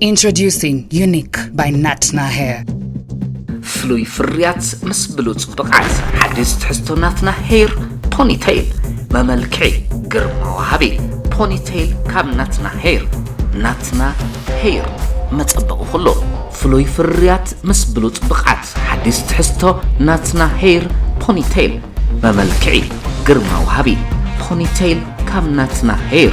Introducing Unique by Natna Hair. ፍሉይ ፍርያት ምስ ብሉጽ ብቕዓት ሓድሽ ትሕዝቶ ናትና ሄር ፖኒቴይል መመልክዒ ግርማ ወሃቢ ፖኒቴይል ካብ ናትና ሄር ናትና ሄር መጸበቒ ኩሉ ፍሉይ ፍርያት ምስ ብሉጽ ብቕዓት ሓድሽ ትሕዝቶ ናትና ሄር ፖኒቴይል መመልክዒ ግርማ ወሃቢ ፖኒቴይል ካብ ናትና ሄር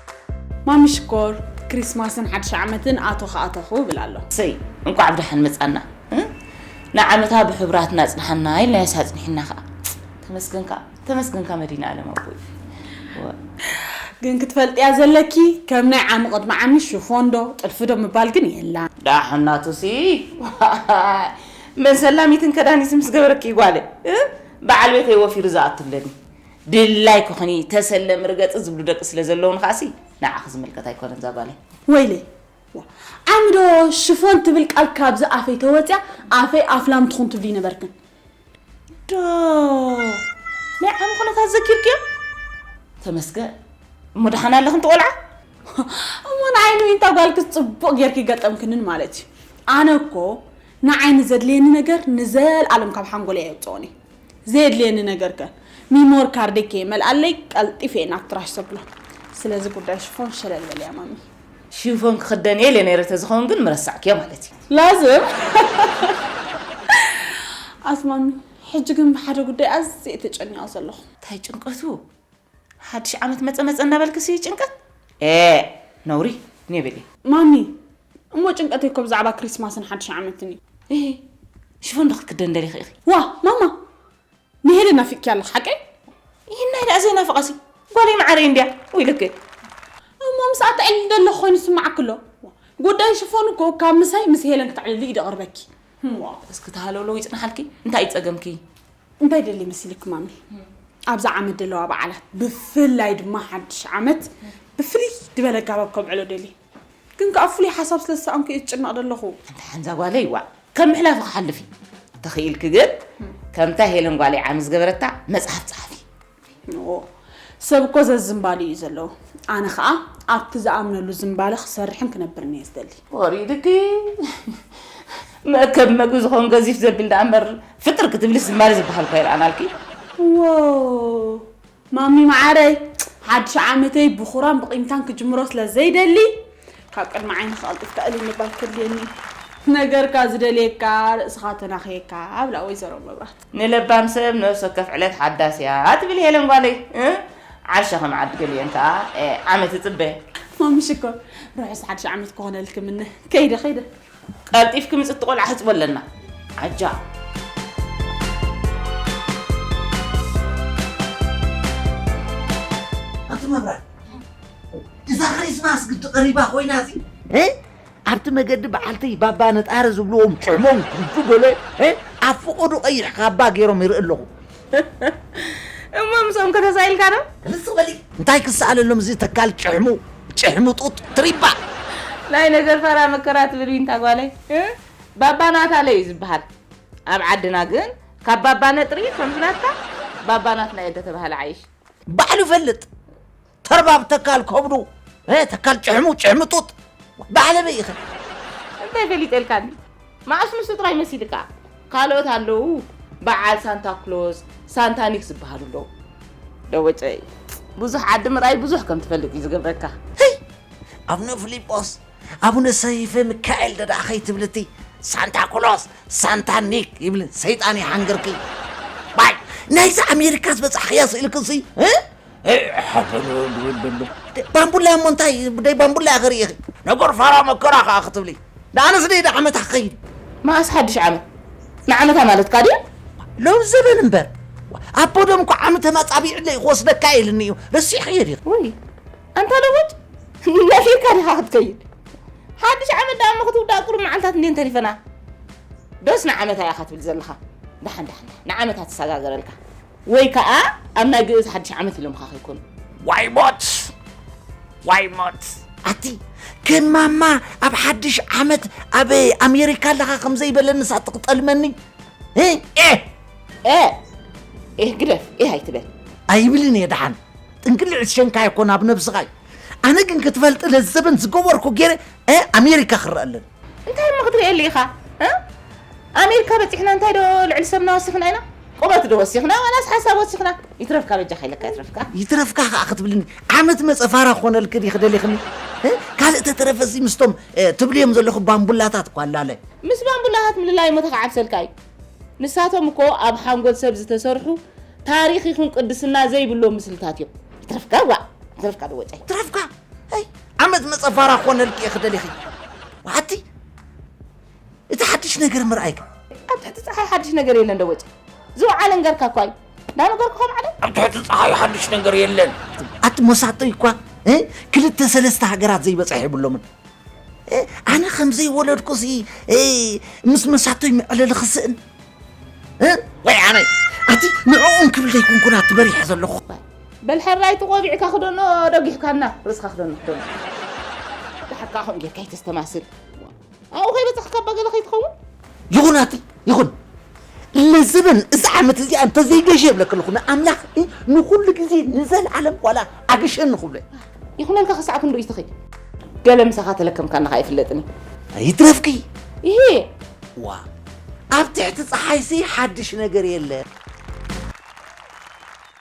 ማሚ ሽኮር ክሪስማስን ሓድሽ ዓመትን ኣቶኽ ኣቶኹ እብል ኣለኹ። ሰይ እንቋዕ ብደሓን መጻና ንዓመታ ብሕቡራትና ኣጽንሓና ኢልናዮስ ኣጽኒሕና ከኣ ተመስገንካ ተመስገንካ መድህናኣለም ኣቦይ ግን ክትፈልጥያ ዘለኪ ከም ናይ ዓሚ ቅድሚ ዓሚ ሽፎን ዶ ጥልፊ ዶ ምባል ግን የላን። ዳሓን ናቱሲ መን ሰላሚትን ከዳኒትን ምስ ገበረኪ ጓለይ በዓል ቤተይ ወፊሩ ዝኣቱለኒ ድላይ ክኹኒ ተሰለ ምርገጺ ዝብሉ ደቂ ስለ ዘለዉኒ ከኣሲ ንዓኺ ዝምልከት ኣይኮነን ዛጓለይ። ወይለይ ዋእ ዓሚ ዶ ሽፎን ትብል ቃል ካብዚ ኣፈይ ተወጽያ ኣፈይ ኣፍላም ትኹን ትብሊ ነበርክን። ዶ ናይ ዓሚ ኩነታት ዘኪርክዮ? ተመስገን እሞ ደሓን ኣለኽን ትቆልዓ? እሞ ንዓይ ንዊንታ ጓልክስ ጽቡቕ ጌርኪ ገጠምክንን ማለት እዩ። ኣነ እኮ ንዓይ ንዘድልየኒ ነገር ንዘልኣለም ካብ ሓንጎለይ ኣየውጽኦን እየ። ዘየድልየኒ ነገር ከ ሚሞር ካርደይ ከይመልኣለይ ቀልጢፈ እየ ናብ ትራሽ ዘብሎ። ስለዚ ጉዳይ ሽፎን ሸለል በልያ ማሚ። ሽፎን ክኽደን እየ ኢለ ነይረ ተዝኸውን ግን ምረሳዕክዮ ማለት እዩ። ላዝም ኣስማሚ ሕጂ ግን ብሓደ ጉዳይ ኣዝየ እየ ተጨኒቐ ዘለኹ። ታይ ጭንቀቱ? ሓድሽ ዓመት መጸ መጸ እናበልክሲ ጭንቀት ኤእ ነውሪ ኔቤሌ ማሚ እሞ ጭንቀተይ እኮ ብዛዕባ ክሪስማስን ሓድሽ ዓመትን እዩ። እሂ ሽፎን ዶ ክትክደን ደሊኺ ኢኺ? ዋ ማማ ንሄለን ናፊቅኪያ ኣለኺ ሓቀይ? ይህናይ ደኣ ዘይናፍቓሲ ጓለይ መዓረይ እንድያ ወይ ልክዕ እሞ ምስኣ ተዕልሊ ደለኺ ኮይኑ ዝስምዓኪ ኣሎ? ጉዳይ ሽፎን እኮ ካብ ምሳይ ምስ ሄለን ክተዕልሊ እዩ ደቕርበኪ። እስኪ እቲ ሃለውለው ይጽናሓልኪ እንታይ እዩ ጸገምኪ? እንታይ ደሊ መሲልኪ ማሚ ኣብዛ ዓመት ደለዋ በዓላት ብፍላይ ድማ ሓድሽ ዓመት ብፍልይ ድበለ ኣጋባብ ከብዕሎ ደሊ ግን ከዓ ፍሉይ ሓሳብ ስለ ዝሰኣንኩ እየ ዝጭነቕ ደለኹ ኣንታ ሓንዛ ጓለይ ዋእ ከም ምሕላፍ ክሓልፍ እዩ ተኽኢልኪ ግን ከምታ ሄለን ጓለይ ዓሚ ዝገበረታ መፅሓፍ ፀሓፊ ን ሰብ እኮ ዘዝምባሉ እዩ ዘለዎ ኣነ ከኣ ኣብቲ ዝኣምነሉ ዝምባለ ክሰርሕን ክነብርን እየ ዝደሊ። ወሪድኪ መእከቢ መግቢ ዝኸውን ገዚፍ ዘብል ደኣ እምበር ፍጥር ክትብልስ ዝምባለ ዝበሃል እኳ ኣይረኣናልኪ። ዎው ማሚ መዓረይ ሓድሽ ዓመተይ ብኹራን ብቂምታን ክጅምሮ ስለ ዘይደሊ ካብ ቅድሚ ዓይኒ ክቐልጢፍካ እልል ምባል ከድልየኒ እዩ። ነገርካ ዝደልየካ ርእስኻ ተናኽየካ ኣብላ ወይዘሮ መብራት። ንለባም ሰብ ነብሲ ወከፍ ዕለት ሓዳስ እያ ትብል ሄለን ጓለይ ዓርሸ ከም ዓዲ ገሊኤን ከኣ ዓመት እጽበ። ማሚ ሽኮር ርሑስ ሓድሽ ዓመት ክኾነልኪ እምነ። ከይደ ከይደ። ቀልጢፍኪ ምጽ እቲ ቆልዓ ሕጽቦ ኣለና ዓጃ። ኣቲ መብራህቲ እዛ ክሪስማስ ግዲ ቀሪባ ኮይና ሲ ኣብቲ መገዲ በዓልቲ ባባ ነጣሪ ዝብልዎም ጭሕሞም ኩብ በሎ እየ። ኣብ ፍቐዱ ቀይሕ ካባ ገይሮም ይርኢ ኣለኹ። እሞ ምስኦም ከ ተሳኢልካ ዶ? ርዝቕ በሊ! እንታይ ክሰኣለሎም እዚ ተካል ጭሕሙ ጭሕሙ ጡጥ ትሪባ! ናይ ነገር ፋራ መከራ ትብል ዊንታ ጓለይ። ባባ ናታለ እዩ ዝበሃል። ኣብ ዓድና ግን ካብ ባባ ነጥሪ ከምዚ ናትካ ባባ ናትና እየ እንተተባህለ ዓይሽ። ባዕሉ ይፈልጥ ተርባብ ተካል ከብዱ እ፣ ተካል ጭሕሙ ጭሕምጡጥ ባሕልቢ ኢኺ። እንታይ ገሊጸልካኒ? መዓስ ንሱ ጥራይ መሲልካ? ካልኦት ኣለዉ በዓል ሳንታ ክሎዝ፣ ሳንታ ኒክ ዝበሃሉ ኣለዉ። ደወጨይ ብዙሕ ዓዲ ምርኣይ ብዙሕ ከም ትፈልጥ እዩ ዝገብረካ። ህይ! ኣቡነ ፊሊጶስ፣ ኣቡነ ሰይፈ ሚካኤል ደኣ ከይትብሊ እቲ ሳንታ ክሎዝ፣ ሳንታ ኒክ ይብል ሰይጣን ይሓንግርኪ። ባይ ናይዚ ኣሜሪካ ዝበጻሕክያ ስእልክሲ እ፣ ሓሰር ዝብል ዘሎ ባምቡላ እሞ እንታይ ብደይ ባምቡላ እያ ክርእኺ ነገር ፋራ መከራ ከዓ ክትብሊ ንኣነስ ደይ ዓመታ ክኸይድ መኣስ ሓድሽ ዓመት ንዓመታ ማለትካ ድያ ሎብ ዘበን እምበር ኣቦ ደም እኳ ዓመተ ማፃቢዕለይ ክወስደካ ኢልኒ እዩ ረሲዕኽዮ ዲኺ ወይ ኣንታ ለቦጭ ነፊርካ ዲኻ ክትከይድ ሓድሽ ዓመት ደኣ እሞ ክትውዳእ ቁሩብ መዓልታት እንዴን ተሪፈና ዶስ ንዓመታ ኢኻ ትብል ዘለኻ ዳሓን ዳሓን ንዓመታ ተሰጋገረልካ ወይ ከኣ ኣብ ናይ ግእዝ ሓድሽ ዓመት ኢሎምኻ ከይኮኑ። ዋይ ሞት ዋይ ሞት። ኣቲ ግን ማማ ኣብ ሓድሽ ዓመት ኣብ ኣሜሪካ ኣለኻ ከም ዘይበለንስ ኣቲ ክጠልመኒ እ ኤህ ኤህ ኤህ ግደፍ ኤህ ኣይትበል። ኣይብልን እየ ደሓን ጥንቅልዕ ዝሸንካ እኮ ናብ ነብስኻ እዩ ኣነ ግን ክትፈልጢ ለዘበን ዝገበርኩ ገይረ እ ኣሜሪካ ክረኣለን እንታይ እሞ ክትሪኤሉ ኢኻ እ ኣሜሪካ በጺሕና እንታይ ዶ ልዕሊ ሰብና ወሲኽና ኢና ቁመት ዶ ወሲኽና ዋላስ ሓሳብ ወሲኽና ይትረፍካ በጃኻ ኢለካ ይትረፍካ ይትረፍካ ከዓ ክትብልኒ ዓመት መፀ ፋራ ክኾነልክ ድየ ክደሊኽኒ እ? ካልእ ተተረፈሲ ምስቶም እ፣ ትብልዮም ዘለኹ ባምቡላታት እኳ ኣላለ ምስ ባምቡላታት ምልላይ እሞ ተኸዓብሰልካ እዩ ንሳቶም እኮ ኣብ ሓንጎል ሰብ ዝተሰርሑ ታሪኽ ይኹን ቅድስና ዘይብሎም ምስልታት እዮም ይትረፍካ ዋእ ይትረፍካ ዶ ወጫይ ትረፍካ ኣይ ዓመት መጸ ፋራ ክኾነልኪ እየ ክደሊኺ ወሓቲ እቲ ሓድሽ ነገር ምርኣይክ ኣብ ትሕቲ ፀሓይ ሓድሽ ነገር የለን ዶ ወጪ ዝወዓለ እንገርካ እኳ እዩ እንዳነገርኩ ከም ዓለ ኣብ ትሕቲ ፀሓይ ሓድሽ ነገር የለን ኣቲ ሞሳቶ እኳ እ? ክልተ ሰለስተ ሃገራት ዘይበፅሐ የብሎምን እ? ኣነ ከም ዘይወለድኩሲ እ፣ ምስ መሳቶይ መዕለሊ ክስእን እ? ወይ ኣነ ኣቲ ንዕኡም ክብል ዘይኩንኩና ትበሪሐ ዘለኹ በል ሕራይ እቲ ቆቢዕካ ክደኖ ደጊሕካና ርእስካ ክደኖ ክደኖ ድሓር ከዓ ከምኡ ጌርካ ይተስተማስል ኣብኡ ከይበፅሕካ እባ ገለ ከይትኸውን ይኹን ኣቲ ይኹን ለዘበን እዚ ዓመት እዚኣ እንተዘይገሸ የብለክ ኣለኹ ንኣምላኽ ንኩሉ ግዜ ንዘለዓለም ዋላ ኣግሸኒ ክብሎ ይኹነልካ ክሳዕ ክንዱ እዩ ትኽይ ገለ ምሳኻ ተለከምካና ኸ ኣይፍለጥን እዩ ይትረፍኪ ይሄ ዋ ኣብ ትሕቲ ፀሓይሲ ሓድሽ ነገር የለ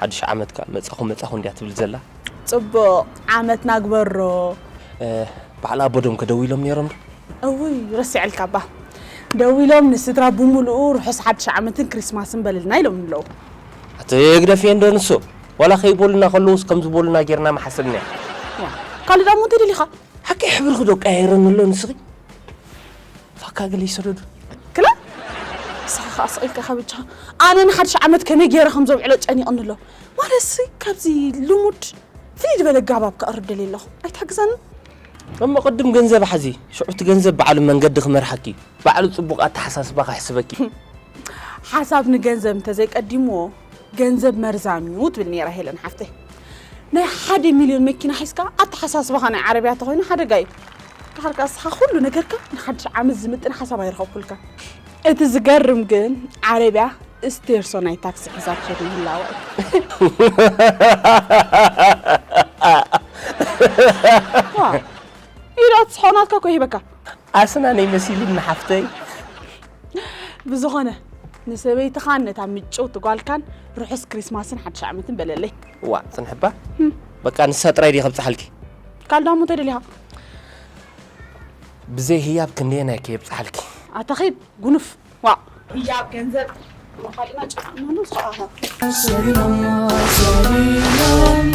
ሓዱሽ ዓመት ከኣ መጻኹ መጻኹ እንድያ ትብል ዘላ። ጽቡቕ ዓመት ናግበሮ። በዓል ኣቦዶምከ ደዊሎም ኔሮም ዶ? እውይ ረሲዐልካ እባ ደዊሎም ንስድራ ብሙሉኡ ርሑስ ሓድሽ ዓመትን ክሪስማስን በልልና ኢሎምኒ ኣለዉ። ኣቲ ህግደፍ እየ እንዶ ንሱ ዋላ ከይበሉና ከለውስ ከምዚ በሉና ጌርና ምሓሰብናዮ። ካልእ ዳሞ እንተደሊኻ። ሓቀይ ሕብርኺ ዶ ቀያይረኒ ኣሎ ንስኺ? ፋካ ግለይ ስርዱ ክላ ንስኻ ከኣ ስቅ ኢልካ ከብቻ ኣነ ንሓድሽ ዓመት ከመይ ጌረ ከም ዘብዕሎ ጨኒቅኒ ኣሎ ማለትሲ ካብዚ ልሙድ ፍልይ ዝበለ ኣጋባብ ከቅርብ ደልየ ኣለኹ ኣይትሕግዘንን? እሞ ቅድም ገንዘብ ሓዚ ሽዑ እቲ ገንዘብ ባዕሉ መንገዲ ክመርሓኪ እዩ ባዕሉ ጽቡቅ ኣተሓሳስባ ክሕስበኪ እዩ። ሓሳብ ንገንዘብ እንተዘይ ቀዲምዎ ገንዘብ መርዛም እዩ ትብል ነይራ ሄለን ሓፍተይ ናይ ሓደ ሚልዮን መኪና ሒዝካ ኣተሓሳስባኻ ናይ ዓረብያ ተኾይኑ ሓደጋ እዩ ድሓር ከዓ ንስኻ ኩሉ ነገርካ ንሓድሽ ዓመት ዝምጥን ሓሳብ ኣይረኸብኩልካ እቲ ዝገርም ግን ዓረብያ ስቴርሶ ናይ ታክሲ ሒዛ ትኸዱ ምህላዋ እዩ ኢዳ ትስሖ ናትካ ኮ ይህበካ ኣስናነይ መሲሉኒ ሓፍተይ ብዝኾነ ንሰበይትኻን ነታ ምጭውቲ ጓልካን ርሑስ ክሪስማስን ሓድሽ ዓመትን በለለይ ዋ ፅንሕባ በቃ ንሳ ጥራይ ድየ ከብፅሓልኪ ካልዳሞ እንተደሊኻ ብዘይ ህያብ ክንደየናይ ከየብፅሓልኪ ኣታኺድ ጉኑፍ ዋ ህያብ ገንዘብ ንኻሊእና ጨካእናሉ ሰዓታት ሰሪናሞ ሰሪናሞ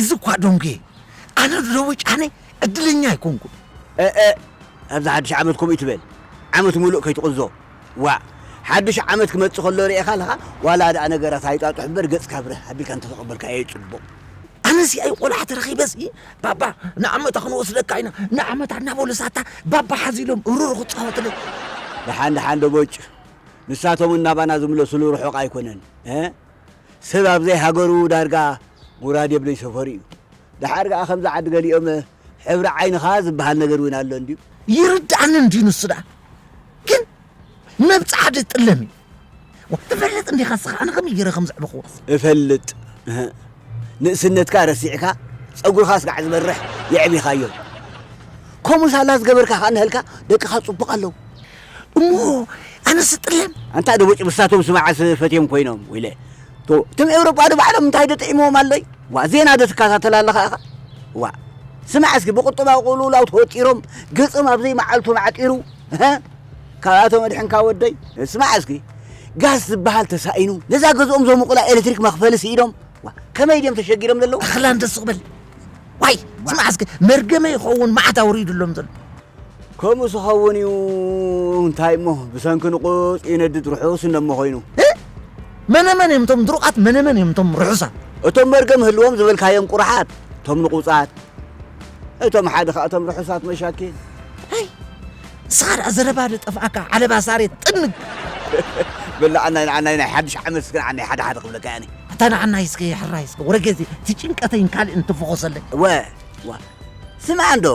እዚ እኳ ዶንጉየ እዩ ኣነ ድረዊ ጫነ ዕድለኛ ኣይኮንኩን። እእ ኣብዚ ሓዱሽ ዓመት ከምኡ እይትበል ዓመት ሙሉእ ከይትቕዞ ዋእ ሓዱሽ ዓመት ክመጽእ ከሎ ርኤኻ ኣለኻ ዋላ ድኣ ነገራት ኣይጣጡሕ እምበር ገጽካ ብርህ ኣቢልካ እንተተቐበልካዮ እዩ ጽቡቕ። ኣነሲ ኣይ ቆልዓ ተረኺበሲ ባባ ንዓመታ ክንወስደካ ኢና ንዓመታ እናበሉ ሳታ ባባ ሓዝ ኢሎም ሩሩ ክጻወትለይ። ደሓን ደሓን ዶ ቦጭ ንሳቶም እውን ናባና ዝምለስሉ ርሑቕ ኣይኮነን። ሰብ ኣብ ዘይ ሃገሩ ዳርጋ ጉራድ የብለይ ሰፈሩ እዩ ዳሓር ካኣ ከምዚ ዓዲ ገሊኦመ ሕብሪ ዓይንኻ ዝባሃል ነገር ውን ኣሎ እንድዩ። ይርድኣኒ እንድዩ ንሱ ዳኣ ግን መብጽዓ ድዩ ጥለም እዩ ዋእ ትፈልጥ እንዲኻ እስኻ ኣነ ከመይ ጌረ ከም ዘዕበኹዎስ። እፈልጥ እህ ንእስነትካ ረሲዕካ ጸጉርኻ ስጋዕ ዝበርሕ የዕቢኻዮ ከምኡ ሳላ ዝገበርካ ካኣ ንሀልካ ደቅኻ ጽቡቕ ኣለዉ። እሞ ኣነ ስጥለም ኣንታ ዶ ቦጭ ብሳቶም ስመዓስ ፈትዮም ኮይኖም ወይለ ቶ ትም ኤውሮጳ ዶ ባዕሎም እንታይ ዶ ጥዒምዎም ኣሎይ ዋ ዜና ዶ ትከታተል ኣለኻ ኢኻ ዋ ስማዕ እስኪ ብቁጠባ ቁሉላው ተወጢሮም ገጾም ኣብ ዘይመዓልቱ ማዕጢሩ ካብኣቶ መድሕንካ ወደይ ስማዕ እስኪ ጋስ ዝበሃል ተሳኢኑ ነዛ ገዝኦም ዘሙቑላ ኤሌክትሪክ መኽፈሊ ስኢዶም ከመይ ድዮም ተሸጊሮም ዘለዉ ኣኽላም ደስ ክብል ዋይ ስማዕ እስኪ መርገመ ይኸውን መዓት ኣውሪዱሎም ዘሎ ከምኡስ ኸውን እዩ እንታይ እሞ ብሰንኪ ንቑጽ ይነድድ ርሑስ እነሞ ኮይኑ እ መነመን እዮም እቶም ድሩቓት መነመን እዮም እቶም ርሑሳት እቶም መርገም ህልዎም ዝበልካዮም ቁራሓት እቶም ንቑጻት እቶም ሓደ ኸኣ እቶም ርሑሳት መሻኪን ኣይ ንስኻ ደኣ ዘረባ ዶ ጠፍኣካ ዓለባ ሳሬት ጥንግ በላዕናይ ንዓናይ ናይ ሓድሽ ዓመት እስከ ንዓናይ ሓደ ሓደ ክብለካ እያ ኣታ ንዓናይ እስከ ሕራይ እስከ ወረገዜ እቲ ጭንቀተይን ካልእን ትፈኾሰለይ እወ እወ ስምዓ እንዶ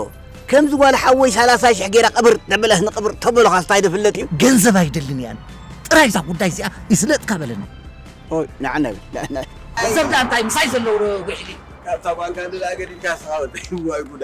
ከምዚ ጓል ሓወይ ሰላሳ ሽሕ ጌራ ቅብር ተብለህ ንቅብር ተበሎኻስ እንታይ ዶ ፍለጥ እዩ። ገንዘብ ኣይደልን እየ ኣነ ጥራይ እዛ ጉዳይ እዚኣ ይስለጥካ በለኒ። ኦይ ናዕና በል። ገንዘብ ደኣ እንታይ ምሳይ ዘሎ ዊሕጊ። ካብታ ጓል ካንደላ ገዲድካ ንስኻ ወደይ ዋይ ጉዳ።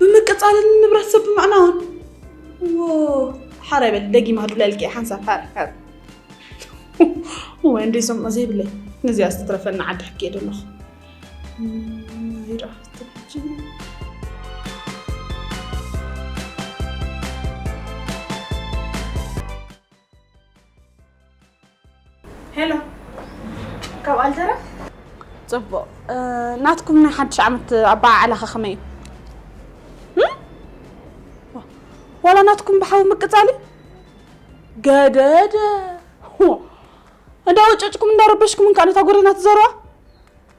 ብምቅጻልን ንብረት ሰብ ብምዕናውን ወ ሓራ ይበል ደጊማ ክብለልኪ ሓንሳብ ሓር ሓር ወይ እንደ ሰምዖ ዘይብለይ ነዚኣ ዝተረፈና ዓዲ ሕኪ እየ ደለኹ ይረኣ ሄሎ ካብ ኣልጀራ ፅቡቅ እ፣ ናትኩም ናይ ሓድሽ ዓመት ኣበዓዕላኸ ከመይ እዩ እም? ዋ- ዋላ ናትኩም ብሓዊ ምቅፃል እዩ ገደደ ዋ፣ እንዳወጨጭኩም እንዳረበሽኩም እንካ ነታ ጎደና ትዘርዋ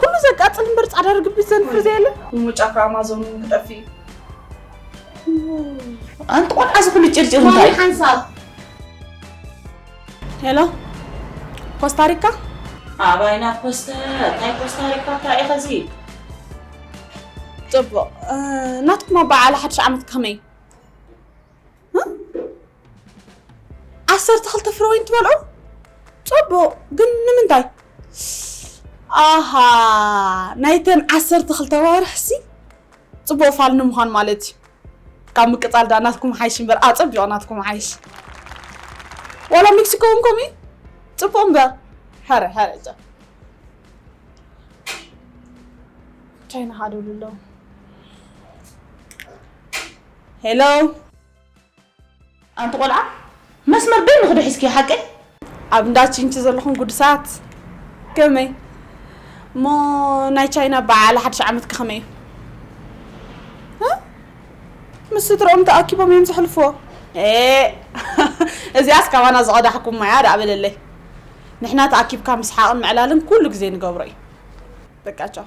ኩሉ ዘቃጽል እምበር ጻዕዳ ርግብ ዘንፍር ዘየለ እሞ ጫካ ኣማዞን እውን ክጠፍእ እዩ ኣንቲ ቆልዓ እዚ ኩሉ ጭርጭር እንታይ እዩ ሓንሳብ ሄሎ ኮስታሪካ ኣባይና ኮስተ እንታይ ኮስታሪካ እንታይ እዩ ከዚ ጽቡቕ ናትኩም ኣበዓዕላ ሓድሽ ዓመት ከመይ እዩ ዓሰርተ ክልተ ፍረ ወይን ትበልዑ ፅቡቕ ግን ንምንታይ ኣሃ ናይተን ዓሰርተ ክልተ ዋርሕሲ ፅቡቕ ፋል ንምዃን ማለት እዩ ካብ ምቅፃል ዳ ናትኩም ሓይሽ እምበር ኣፀቢቑ ናትኩም ሓይሽ ዋላ ሜክሲኮ እውን ከምኡ እዩ ፅቡቕ እምበር ሕረ ሕረ እዛ ቻይና ሃደሉ ኣለዉ Hello! ኣንቲ ቆልዓ መስመር በይንኺ ዶ ሒዝክዮ ሓቀይ? ኣብ እንዳ ቺንቺ ዘለኹም ጉዱሳት ከመይ እሞ ናይ ቻይና በዓል ሓድሽ ዓመትከ ከመይ እዩ? ምስ ስድርኦም ተኣኪቦም እዮም ዘሕልፍዎ። እዚኣስ ካባና ዝቐዳሕኩም ማያ ደኣ በለለይ። ንሕና ተኣኪብካ ምስሓቕን ምዕላልን ኩሉ ግዜ ንገብሮ እዩ። በቃ ቻው።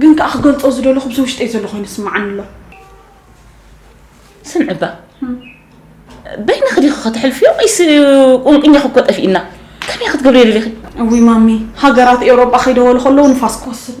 ግን ከኣ ክገልጾ ዝደለኹ ምስ ውሽጠይ ዘሎ ኮይኑ ስምዓኒ ኣሎ። ስምዒ እባ በይና ክዲኺ ከተሕልፍዮ ወይስ ቁንቁኛኺ እኮ ጠፊእና ከመይ ክትገብሪ የደሊኺ? እውይ ማሚ ሃገራት ኤውሮጳ ከይደወሉ ከለዉ ንፋስ ክወስድ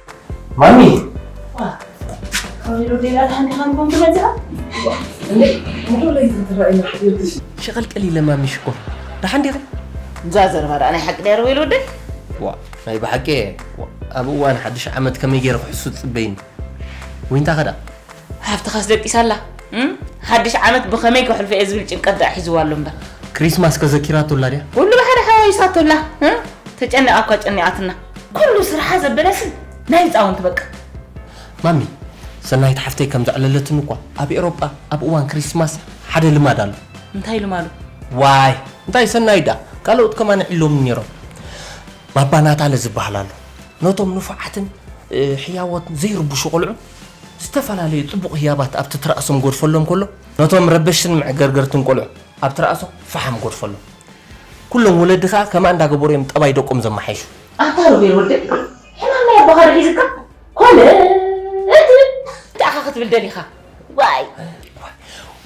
ማሚ ሸቐልቀል ኢለ ማሚ ሽኮር ደሓን ዲኹም? እዛ ዘረባ ደኣ ናይ ሓቂ ድያ ርበይሉ ወደይ ዋ ናይ ብሓቂ እየ ዋ፣ ኣብ እዋን ሓድሽ ዓመት ከመይ ገይረ ክሕሱ ትፅበይኒ ወይንታ ከዳ ሃብትኻስ ደቂሳ ኣላ እም? ሓድሽ ዓመት ብኸመይ ከሕልፎ እየ ዝብል ጭንቀት ደኣ ሒዝዋ ኣሎ እምበር ክሪስማስ ከዘኪራቶ ኣላ ድያ ኩሉ ብሓደ ሓዋዊሳቶ ኣላ እም? ተጨኒቓ እኳ ጨኒቓትና ኩሉ ስርሓ ዘበለስን ናይ ህፃውንቲ በቃ። ማሚ ሰናይት ሓፍተይ ከም ዘዕለለትኒ እኳ ኣብ ኤሮጳ ኣብ እዋን ክሪስማስ ሓደ ልማድ ኣሎ። እንታይ ልማዱ? ዋይ እንታይ ሰናይት ደኣ ካልኦት ከማን ይዕልሎምኒ ነይሮም። ባባ ናታለ ዝበሃል ኣሎ። ነቶም ንፉዓትን ሕያዎትን ዘይርብሹ ቆልዑ ዝተፈላለዩ ጽቡቕ ህያባት ኣብቲ ትራእሶም ጎድፈሎም ከሎ ነቶም ረበሽትን መዕገርገርትን ቆልዑ ኣብ ትራእሶም ፈሓም ጎድፈሎም። ኩሎም ወለዲ ከኣ ከምኣ እንዳገበሩ እዮም ጠባይ ደቆም ዘመሓይሹ። ኣታ ሮቤል ወደይ ሕማም ናይ ኣቦኻ ዶ ሒዝካ ኮለል እንታይ ኣኻ ክትብል ደሊኻ ዋይ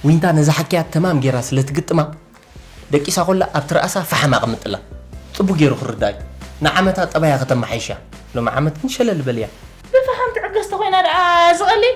ዊንታ ነዛ ሓኪያ ተማም ጌራ ስለ ትግጥማ ደቂሳ ኮላ ኣብቲ ርኣሳ ፈሓም ኣቕምጥላ ጽቡቅ ጌሩ ክርዳ እዩ ንዓመታ ጠባያ ከተመሓይሻ ሎሚ ዓመት ግን ሸለል በልያ። ብፈሓም ትዕገስ ተኾይና ደኣ ዝቐልል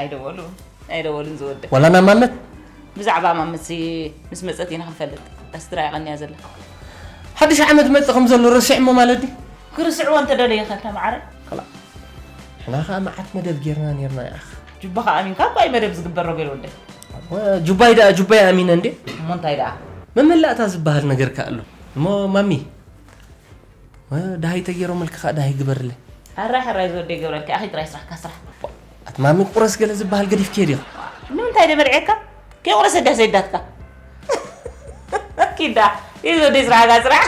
ኣይደወሉን ኣይደወሉን ዝወደ ወላ ናብ ማመት ብዛዕባ ማመት ምስ መፀት ኢና ክንፈልጥ ኣስትራ ይቐንያ ዘላ ሓድሽ ዓመት መፅ ከም ዘሎ ረሲዕሞ ማለት ድዩ ክርስዑ እንተ ደለየ ከ ተማዕረ ከላ ሕና ከዓ መዓት መደብ ጌርና ነርና ይኣኽ ጁባ ከዓ ኣሚንካ ባይ መደብ ዝግበር ረገል ወደ ጁባይ ደኣ ጁባይ ኣሚነ እንዴ እሞ እንታይ ደኣ መመላእታ ዝበሃል ነገር ከዓ ኣሎ እሞ ማሚ ዳሃይ ተጌሮምልኪ ከኣ ዳሃይ ግበርለይ። ሕራይ ሕራይ ዝወደይ ገብረልኪ ኣኺ ጥራይ ስራሕካ ስራሕ። ኣቲ ማሚ ቁረስ ገለ ዝበሃል ገዲፍክዮ ዲኺ። ንምንታይ ዶ በልዔካ ከይቁረሰ ዳስ የዳትካ ኪዳ ይህ ዝወደይ ስራሕካ ስራሕ።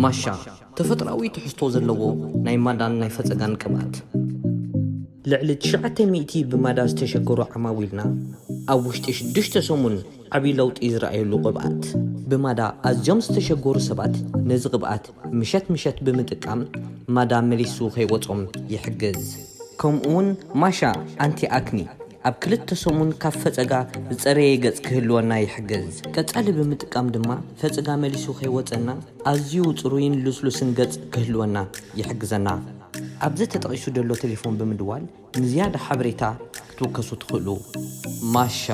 ማሻ፣ ተፈጥሮኣዊ ትሕዝቶ ዘለዎ ናይ ማዳን ናይ ፈጸጋን ቅብኣት። ልዕሊ ትሽዓተ ሚእቲ ብማዳ ዝተሸገሩ ዓማዊልና ኣብ ውሽጢ ሽዱሽተ ሰሙን ዓቢ ለውጢ ዝረኣዩሉ ቅብኣት። ብማዳ ኣዝዮም ዝተሸገሩ ሰባት ነዚ ቅብኣት ምሸት ምሸት ብምጥቃም ማዳ መሊሱ ከይወጾም ይሕግዝ። ከምኡ'ውን ማሻ ኣንቲ ኣክኒ ኣብ ክልተ ሰሙን ካብ ፈጸጋ ዝጸረየ ገጽ ክህልወና ይሕግዝ። ቀጻሊ ብምጥቃም ድማ ፈጽጋ መሊሱ ከይወጸና ኣዝዩ ጽሩይን ልስሉስን ገጽ ክህልወና ይሕግዘና። ኣብዚ ተጠቒሱ ደሎ ተሌፎን ብምድዋል ንዝያዳ ሓበሬታ ክትውከሱ ትኽእሉ። ማሻ።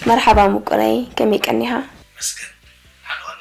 መርሓባ ሙቁረይ ከመይ ቀኒኻ። ይመስገን ሓሉ ኣነ።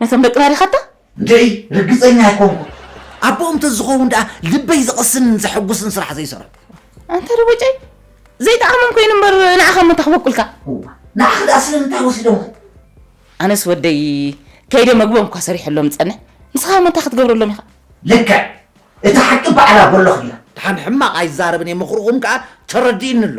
ነቶም ደቅና ዲኻታ? እንድዒ ርግጸኛ ኣይኮንኩን። ኣቦኦም ተዝኸውን ድኣ ልበይ ዘቕስንን ዘሐጉስን ስራሕ ዘይሰርሑ። ኣንታ ደቦጨይ ዘይጠዓሞም ኮይኑ እምበር ንዓኻ እሞ እንታይ ክበቁልካ። እዋ ንዓኺ ድኣ ስለምንታይ ወሲዶምኺ? ኣነስ ወደይ ከይደ መግቦም እኳ ሰሪሐሎም ዝጸንሕ ንስኻ እሞ እንታይ ክትገብረሎም ኢኻ? ልክዕ እቲ ሓቂ ባዕላ በሎኽ ድያ። ድሓን ሕማቕ ኣይዛረብን እየ ምኽርኹም ከኣ ተረዲእኒ ኣሎ።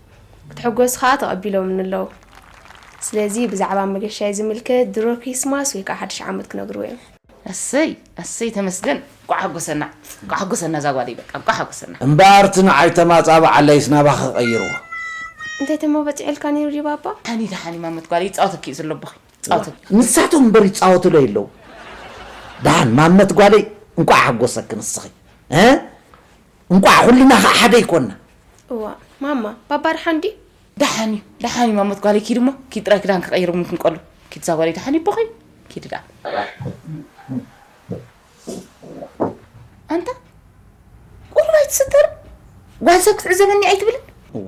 ክትሕጎስ ከኣ ተቐቢሎምኒ ኣለዉ። ስለዚ ብዛዕባ መገሻይ ዝምልከት ድሮ ክሪስማስ ወይ ከኣ ሓድሽ ዓመት ክነግርዎ እዮም። ኣሰይ ኣሰይ ተመስገን እንቋዕ ሓጎሰና እንቋዕ ሓጎሰና እዛ ጓለይ በቃ እንቋዕ ሓጎሰና። እምበኣር እቲ ንዓይ ተማጻብዓለይስ ናባኺ ክቕይርዎ። እንታይ ተሞ በጺሑልካ ነይሩ ድዩ ባባ? ሃኒ ደሓን እዩ ማመት ጓለይ ይጻወተኪ እዩ ዘሎ ኣቦኺ ይጻወተኪ። ንሳቶም እምበር ይጻወቱለይ ኣለዉ። ደሓን ማመት ጓለይ እንቋዕ ሓጎሰኪ ንስኺ። እንቋዕ ኩልና ከዓ ሓደ ይኮና። እዋእ ማማ ባባ ደሓን ድዩ? ደሓን እዩ ደሓን እዩ ማሞት ጓለይ ኪድ እሞ ኪድ ጥራይ ክዳን ክቐይር እውን ክንቀሉ ኪድ እዛ ጓለይ ደሓን እዩ ቦኺ ኪድ ደኣ ኣንታ ቁሩብ ኣይትስተርን ጓል ሰብ ክትዕዘበኒ ኣይትብልን እዋ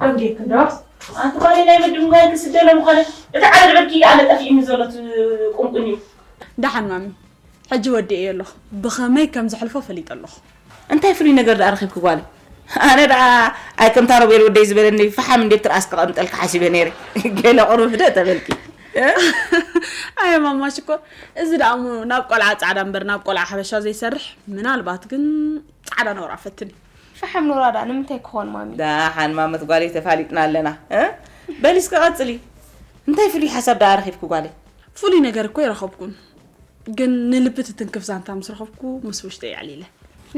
ደም ጌርክን ዶ ኣንቲ ጓለይ ናይ ምድንጓይ ክስደለ ምኾነ እቲ ዓረድ ዕርኪ ኣነ ጠፊኡኒ ዘሎ ትቁንቁን እዩ። ደሓን ማሚ ሕጂ ወዲኤዮ ኣለኹ ብኸመይ ከም ዘሕልፎ ፈሊጠ ኣለኹ። እንታይ ፍሉይ ነገር ደኣ ረኺብኪ ጓለይ? ኣነ ደኣ ኣይ ከምታ ሮቤል ወደይ ዝበለኒ ፈሓም እንድየ ኣብ ትርኣስ ከቐምጠልኪ ሓሲበ ነይረ ገለ ቁሩብ ህደ ተበልኪ። ኣየ ማማ ሽኮር እዚ ደኣ እሞ ናብ ቆልዓ ጻዕዳ እምበር ናብ ቆልዓ ሓበሻ ዘይሰርሕ ምናልባት ግን ጻዕዳ ነውራ ፈትን እዩ። ሸሐም ኑራ ድኣ ንምንታይ ክኾን ማሚ። ዳሓን ማመት ጓለይ ተፋሊጥና ኣለና እ በሊ እስከ ቀጽሊ እንታይ ፍሉይ ሓሳብ ዳኣ ረኺብኪ ጓለይ። ፍሉይ ነገር እኮ ኣይረኸብኩን ግን ንልቢ ትትንክፍ ዛንታ ምስ ረኸብኩ ምስ ውሽጠይ ኣዕሊለ።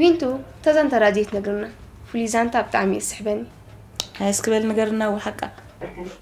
ዊንቱ እታ ዛንታ ድኣ ዘይትነግርና ፍሉይ ዛንታ ብጣዕሚ እዩ ዝስሕበኒ። ሃየ እስኪ በሊ ንገርና እወ ሓቃ።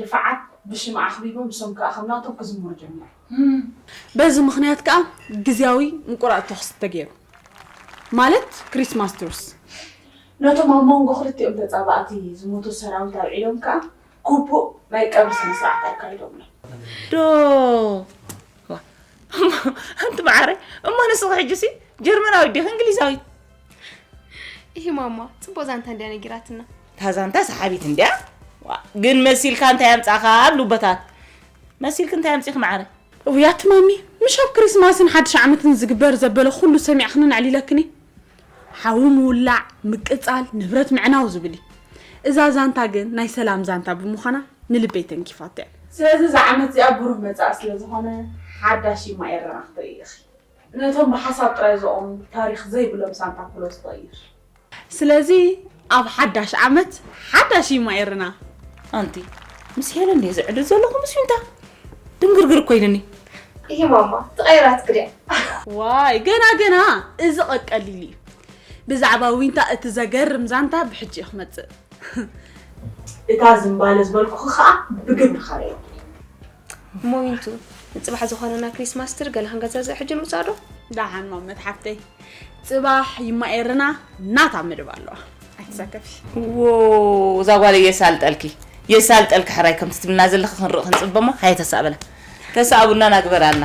ድፋዓት ብሽም ኣኽቢቡ ንሶም ከኣ ከም ናቶም ክዝምሩ ጀሚሮም። በዚ ምኽንያት ከኣ ግዝያዊ ምቁራጽ ተኹሲ ተገይሩ። ማለት ክሪስማስ ትሩስ። ነቶም ኣብ መንጎ ክልቲኦም ተጻባእቲ ዝሞቱ ሰራዊት ኣውዒሎም ከኣ ግቡእ ናይ ቀብሪ ስነስርዓት ኣካይዶምሎም። ዶ እሞ ኣንቲ መዓረይ እሞ ንስኺ ሕጂሲ ጀርመናዊት ዲኺ እንግሊዛዊት? ኢሂ ማማ ጽቡቕ ዛንታ እንድያ ነጊራትና። እታ ዛንታ ሰሓቢት እንድያ ግን መሲልካ እንታይ ኣምጻኻ ኣብ ሉበታት መሲልክ እንታይ ኣምጺኺ መዓረ ውያት ማሚ ምሽ ኣብ ክሪስማስን ሓድሽ ዓመትን ዝግበር ዘበለ ኩሉ ሰሚዕኽንን ኣዕሊለክኒ ሓዊ ምውላዕ ምቅጻል ንብረት ምዕናው ዝብል እዩ እዛ ዛንታ ግን ናይ ሰላም ዛንታ ብምዃና ንልበይ ተንኪፋቶ እያ ስለዚ እዛ ዓመት እዚኣ ብሩህ መጻኢ ስለ ዝኾነ ሓዳሽ ይማ ኤረና ክትርኢ ኢኺ ነቶም ብሓሳብ ጥራይ ዝቖሙ ታሪኽ ዘይብሎም ሳንታ ክሎዝ ቐይር። ስለዚ ኣብ ሓዳሽ ዓመት ሓዳሽ እዩ ማይርና። ኣንቲ ምስ ሄለን ድየ ዝዕልል ዘለኹ ምስ ዊንታ? ድንግርግር እኮ ኢሉኒ። እሂ ማማ ተቐይራትኪ ድያ? ዋይ ገና ገና እዚ ቀቀሊል እዩ ብዛዕባ ዊንታ እቲ ዘገርም ዛንታ ብሕጂ እዩ ክመጽእ። እታ ዝምባለ ዝበልኩኺ ከኣ ብግብሪ ከረየኩ። ሞይንቱ ንጽባሕ ዝኾነና ክሪስማስ ትሪ ገለ ክንገዛዘእ ሕጂ ንውጻእ ዶ? ደሓን ማመት ሓፍተይ ጽባሕ ይማ ኤርና ናታ መደብ ኣለዋ ኣይትሰከፊ። ዎ እዛ ጓለይ የሳልጠልኪ የሳልጠልኪ ሕራይ ከምቲ ትብልና ዘለኺ ክንርኢ ክንጽበ እሞ ሃየ ተሳእበላ ተሳእቡና ናግበራልና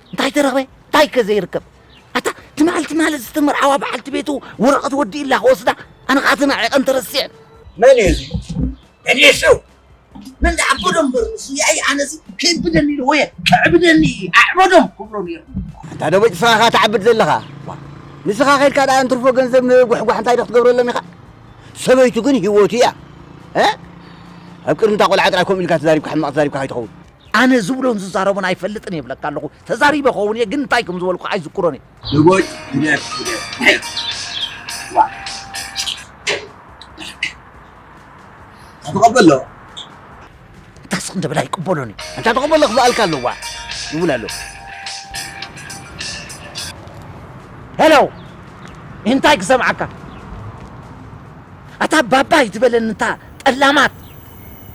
እንታይ ተረኽበ እንታይ ከ ዘይርከብ ኣታ ትማል ትማል ዝተመርዓዋ በዓልቲ ቤቱ ወረቐት ወዲእላ ክወስዳ ኣነ ከዓ ተናዒቐን ተረሲዐ መን እዩ እዚ ዕዴሱ መን ዝዓበዶ እምበር ንሱ ያኢ ኣነዚ ከይብደኒ ኢሉ ወየ ክዕብደኒ ኣዕበዶም ክብሎ ነይሩ ኣታ ደቦጭ ንስኻ ኸ ትዓብድ ዘለኻ ንስኻ ከድካ ደኣ እንትርፎ ገንዘብ ንጉሕጓሕ እንታይ ዶ ክትገብረሎም ኢኻ ሰበይቱ ግን ሂወቱ እያ ኣብ ቅድሚ እታ ቆልዓ ጥራይ ከምኡ ኢልካ ተዛሪብካ ሕማቕ ተዛሪብካ ከይትኸውን ኣነ ዝብሎን ዝዛረቦን ኣይፈልጥን እየ ይብለካ ኣለኹ። ተዛሪበ ክኸውን እየ ግን እንታይ ከም ዝበልኩ ኣይዝክሮን እየ። ህቦይ ግደፍ ግደፍ ግደፍ ዋእ በለካ እንታ ተቀበሎ። እንታ ስቅ እንተ በል ኣይቅበሎን እዩ። እንታ ተቀበሎ ክበኣልካ ኣሎ ዋእ ይብል ኣሎ። ሄሎ እንታይ ክሰምዓካ ኣታ ባባ ኣይትበለኒ እታ ጠላማት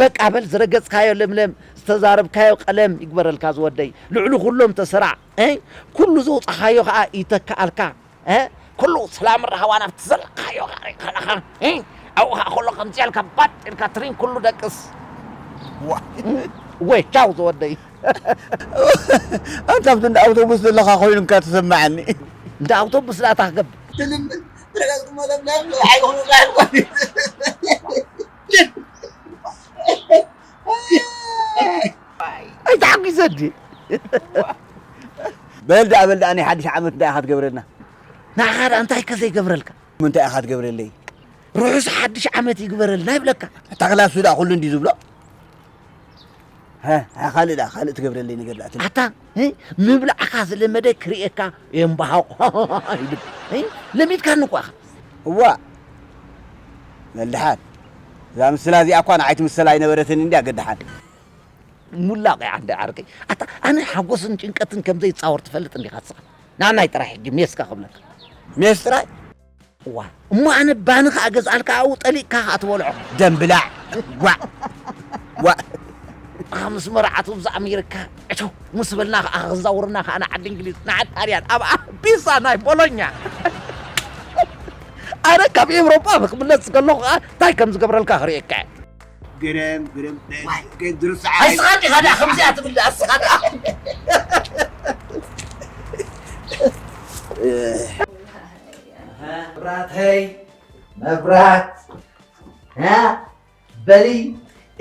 በቃ በል ዝረገጽካዮ ለምለም ዝተዛረብካዮ ቀለም ይግበረልካ ዝወደይ ልዕሉ ኩሎም ተሰራዕ እይ ኩሉ ዘውጻኻዮ ከኣ ይተከኣልካ እ ኩሉ ሰላምን ራህዋን ኣብቲ ዘለኻዮ ከኣ ይከናኻ እይ ኣብኡ ከኣ ከሎ ከምዚ ኢልካ ባጥ ኢልካ ትሪን ኩሉ ደቅስ እወ ቻው ዝወደይ። ኣንታ እንዳ ኣውቶቡስ ዘለኻ ኮይኑካ ተሰማዓኒ። እንዳ ኣውቶቡስ ድኣ ታይ ክገብር። ትልምን ትረገጽ እሞ ለምለም ንውሓይ ይኹንላ። ኣይተሓጒሰ ድየ በል ደኣ በል ደኣ ናይ ሓድሽ ዓመት እንታይ ኢኻ ትገብረልና ንዓኻ ደኣ እንታይ ከ ዘይገብረልካ ምንታይ ኢኻ ትገብረለይ ርሑስ ሓድሽ ዓመት ይግበረልና ይብለካ እታ ክላሱ ደኣ ኩሉ እንዲ ዝብሎ ሀ፣ ሀ፣ ካልእ ደኣ ካልእ ትገብረለይ ነገር ደኣ ትብል ኣታ ምብላዕካ ዝለመደ ክርእየካ የምባሃቑ ይብል ለሚድካኒ እኳ ኢኻ። እዋእ መልሓን እዛ ምስላ እዚኣ እኳ ንዓይ ትምሰል ኣይነበረትን እንድያ ግድሓን። ሙላቕ እያ እንደ ዓርከይ። ኣታ ኣነ ሓጎስን ጭንቀትን ከም ዘይጻወር ትፈልጥ እንዲኻ እስኻ። ንኣናይ ጥራይ ሕጂ ሜስካ ክብለካ። ሜስ ጥራይ? እዋይ እሞ ኣነ ባኒ ከኣ ገዝኣልካ ኣብኡ ጠሊቕካ ከኣ ትበልዖ ደም ብላዕ ጓዕ ዋእ ኣኻ ምስ መርዓቱ እብዛ ኣሜሪካ ዕቸው ምስ በልና ከኣ ክዛውርና ከኣ ንዓዲ እንግሊዝ ንዓዲ ጣልያን ኣብኣ ቢሳ ናይ ቦሎኛ ኣነ ካብ ኤውሮጳ ብክምለስ ከለኹ ከኣ እንታይ ከም ዝገብረልካ ክርእየካ እየ ግርም ግርም ድርስ ኣይስኻ ዲኻ ድኣ ከምዚኣ ትብል ድኣ እስኻ ድኣ መብራተይ መብራት በሊ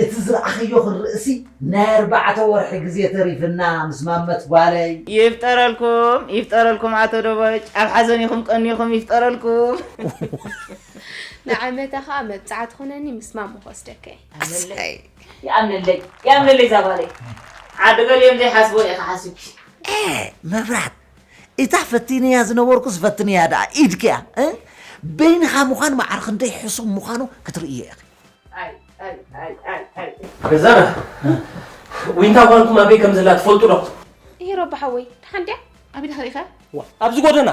እቲ ዝረኣኸዮ ክንርእሲ ናይ ኣርባዕተ ወርሒ ግዜ ተሪፍና ምስ ማመት ጓለይ ይፍጠረልኩም ይፍጠረልኩም ኣቶ ደበጭ ኣብ ሓዘን ኢኹም ቀኒኹም ይፍጠረልኩም ንዓመታ ከዓ መብፃዕቲ ኩነኒ ምስ ማሞ ክወስደካ ይኣምነለይ ይኣምነለይ ዛጓለይ ዓዲ ገሊኦም ዘይሓስቦ ኢኻ ሓሲብኪ መብራት እታ ፈቲነያ ዝነበርኩስ ፈትንያ ደኣ ኢድኪያ እ በይንኻ ምዃን መዓር ክንደይ ሕሱም ምዃኑ ክትርእዮ ኢኺ። ገዛና ዊንታ ጓልኩም ኣበይ ከም ዘላ ትፈልጡ ዶ? እሂ ሮቢ ሓወይ ደሓን ድያ? ኣቤት ኣኸኢኸ? ዋ ኣብዚ ጎደና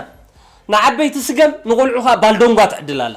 ንዓበይቲ ስገም ንቆልዑ ከኣ ባልዶንጓ ትዕድል ኣላ።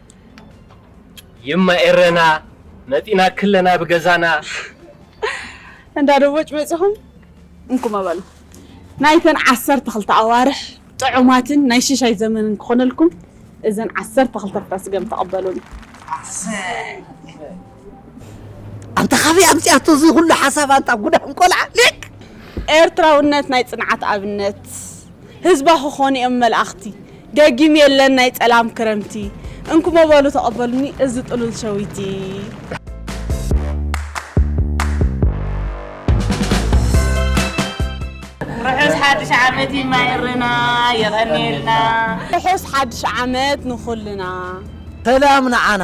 የማ ኤረና መጢና ክለና ብገዛና እንዳ ደቦጭ በጺኹም እንኩም ኣበሉ ናይተን ዓሰርተ ክልተ ኣዋርሕ ጥዑማትን ናይ ሽሻይ ዘመንን ክኾነልኩም እዘን ዓሰርተ ክልተ ኣስገም ተቐበሉኒ። ኣንታ ካበይ ኣምጺኣቶ እዚ ኩሉ ሓሳብ ኣንታ ጉዳም ቆልዓ ሊቅ። ኤርትራውነት ናይ ጽንዓት ኣብነት ህዝባ ክኾኑ እዮም መልኣኽቲ ደጊም የለን ናይ ጸላም ክረምቲ እንኩሞ በሉ ተቐበሉኒ እዚ ጥሉል ሸዊቲ። ርሑስ ሓድሽ ዓመት ይማኤርና የቐንየልና። ርሑስ ሓድሽ ዓመት ንኹልና። ሰላም ንዓና።